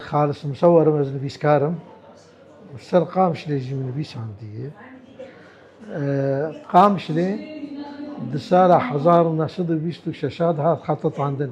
Xalis Musewer im, ez nivîskar im û li ser Qamişlê jî min nivîsandiye. Qamişlê di sala hezar û neh sed û bîst û şeş a dihat xetetandin.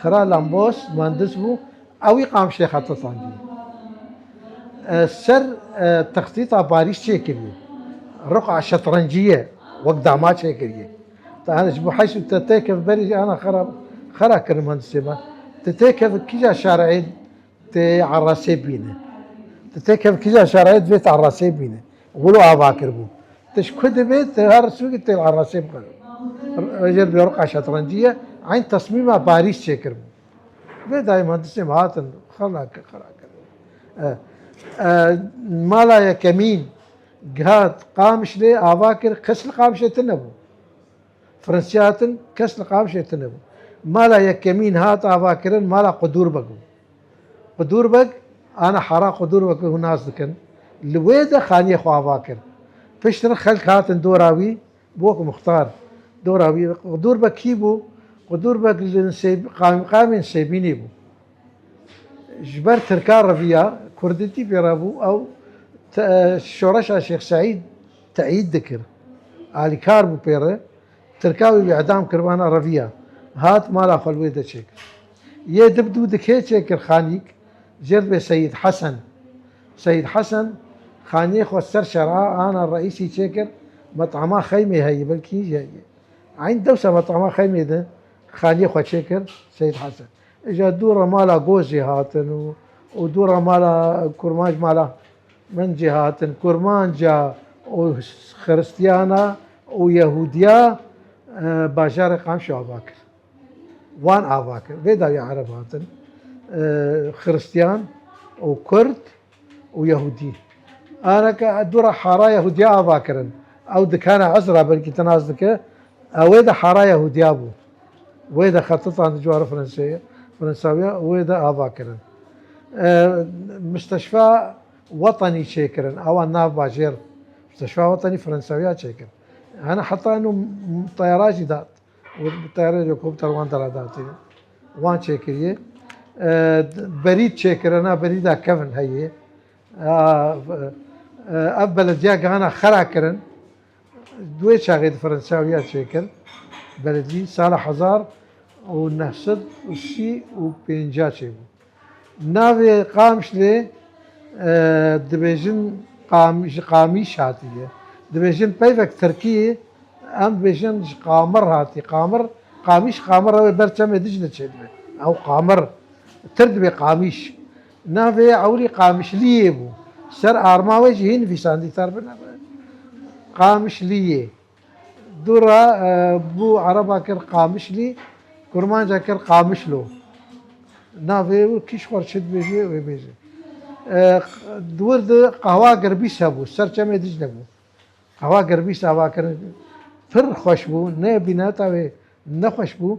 Xira Lambos muhendis bû, ewî qamşê xeta sancî. Ser texsîsa barîş çêkiriye. Riqa şetrencî ye wek dama çêkiriye. Tane ji bo heşt û te têkevî berê jî ana xera xera kirin muhendisê me. Ti têkevî kîja şereyê Tê erasê bîne. Tu tê kev kija şarayê divê tu erasê bîne. Gul û ava kiribû. Tu ji ku dibê tu her sûkê tê erasê bixwe. Rêjê li Beroka Şetrencî ye eyn tesmîma Parîs çêkiribû. Vê dayê muhendisên ve hatin xela kir xela kir. Mala yekemîn gihat Qamişlê ava kir kes li Qamişlê tune bû. Firnsya tin kes li Qamşê tune bû. Mala yekemîn hat avakirin mala Qudûrbeg bû. Qudûrbeg ana hara Qudûrbeg hûn nas dikin. Li wê de xaniyê xwe ava kir. Pişt re xelk hatin dora wî bûk muxtar. Dora wî Qudûrbeg kî bû? Qudûrbeg li qamîqamên Sêbînê bû. Ji ber tirkan re viya, kurdîtî pê re bû. Ew şoreşa Şêx Seîd. Teyîd dikir. Alîkar bû pê re. Tirka wê wî edam kir vana reviya. Hat mala xwe li wê de çêkir. Yê di bi dû dikê çêkir xanîk jê re bê Seyîd Hesen. Seyîd Hesen xaniyê xwe ser şer a ana Reîsî çêkir metama xeymê heyî belkî hîn jî heyî. Eyn dewsa metama xeymê de xaniyê xwe çêkir Seyîd Hesen. Îja dû re mala Gozê hatin û dû re mala Kurmanc mala. Min cî hatin kurmanca û xiristiyana û yehudiya bajarê Qamşê ava kir. Wan ava kir. Vê dawî ereb hatin xiristiyan û kurd û yehudî. Areke dûra hara yehudiya ava kirin. Ew dikene ez ra belkî tinas dike. Ewê de hara yehudiya bû. Wê de xetitan di civara Franseyê, Fransawiya wê de ava kirin. Misteşfa Wetanî çêkirin, awa nav bajêr Misteşfa Wetanî Fransawiya çêkir. Hena heta eno teyara jî dat. Teyara helikopter wan dera datî. Wan çêkirî. Berîd çêkirin, a berîd a kevin heyî. Ev belediya gihana xera kirin. Duê çaxê di Firensawiya çêkir beredî sala hezar û neh sed û sî û pênca çêbû. Navê Qamşlê dibêjin ji Qamîş hatiye. Dibêjin peyvek tirkî em dibêjin ji Qamir hatiye. Qamir, Qamîş, Qamir ew ê ber çemê Diclê çêdibe. Ew Qamir. Tir dibê Qamîş. Navê ewrî Qamişliyê bû. Ser arma wê jî hîn vîsandî Tarbina be. Qamişliyê. Dû ra bû ereba kir Qamişlî, kurmanca kir Qamişlo. Navê wê kî ji xwe re çi dibêje wê bêje. Di wir de qehwa girbîs hebû, ser çemê Dîcle bû. Qehwa girbîs avakirin pir xweş bû, ne bînata wê nexweş bû.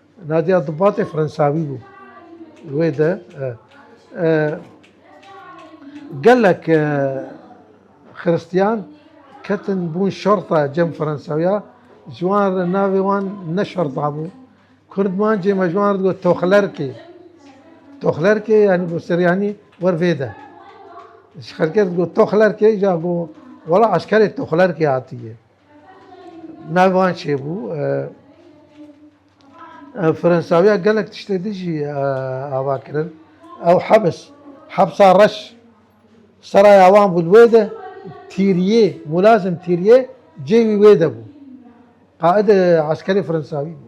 Nadia Dubatê Fransawî bû. Wê de gelek Xiristiyan ketin bûn şerta cem Fransawiya ji wan re navê wan ne şerta bû. Kurdmancê me ji wan re digot Toxlerkê. Toxlerkê yanî got Siryanî wer vê de. Ji xelkê re digot Toxlerkê ja got wela eşkerê Toxlerkê hatiye. Navê çê bû. Firensawiya gelek tiştê din jî ava kirin. Ew hebis, hebsa reş seraya wan bû li wê de tîriyê, mulazim tîriyê cêwî wê de bû. Qaîdê eskerê Firensawî bû.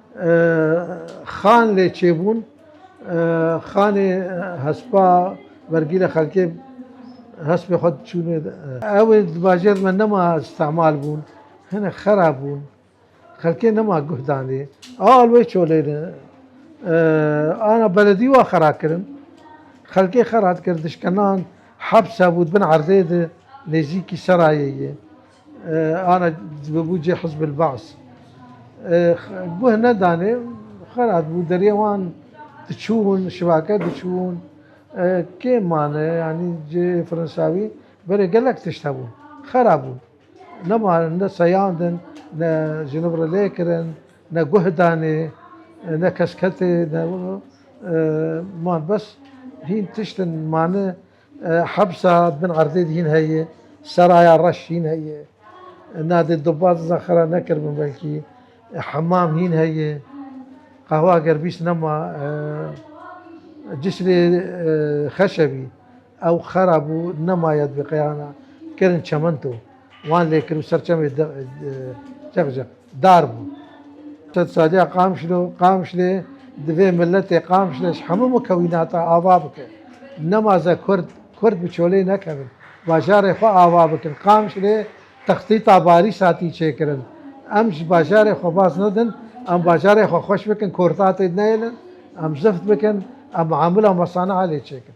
Xan lê çêbûn, xanê hespa vergîrê xelkê hespê xwe diçûnê. Ew ê di bajêr di me nema îstîmal bûn, hinek xera bûn, xelkê nema guh danê. Al wê çolêne, ana beledî wa xera kirin, xelkê xera dikir, dişkenan, heps hebû di bin erdê di nêzîkî serayê yê. Ana dibû cih Hizbul Ba's guh nedanê xerat bû deriyê wan diçûn şivake diçûn kê mane yanî cê firinsawî berê gelek tişt hebû xera bû nema ne seyandin ne jinivre lê kirin ne guh danê ne kes ketê ne man bes hîn tiştin mane. Hebsa bin erdê de hîn heye, seraya reş hîn heye. Na dê duba diza xera nekiribin belkî. Hemam hîn heye. Qehwa ger bîst nema cisrê xeşe bî. Ew xera bû nemaye divê qeyana kirin çemento. Wan lê kir û ser çemê çek ji dar bû. Sed saliya Qamşlo, Qamşlê divê miletê Qamşle ji hemû mukewînata ava bike. Nemaze Kurd, Kurd bi çolê nekevin. Bajarê xwe ava bikin. Qamşlê texsîta barî satî çêkirin. Em ji bajarê xwe baz nedin, em bajarê xwe xweş bikin, kortatê neyêlin, em zift bikin, em miamila mesaniha lê çêkin.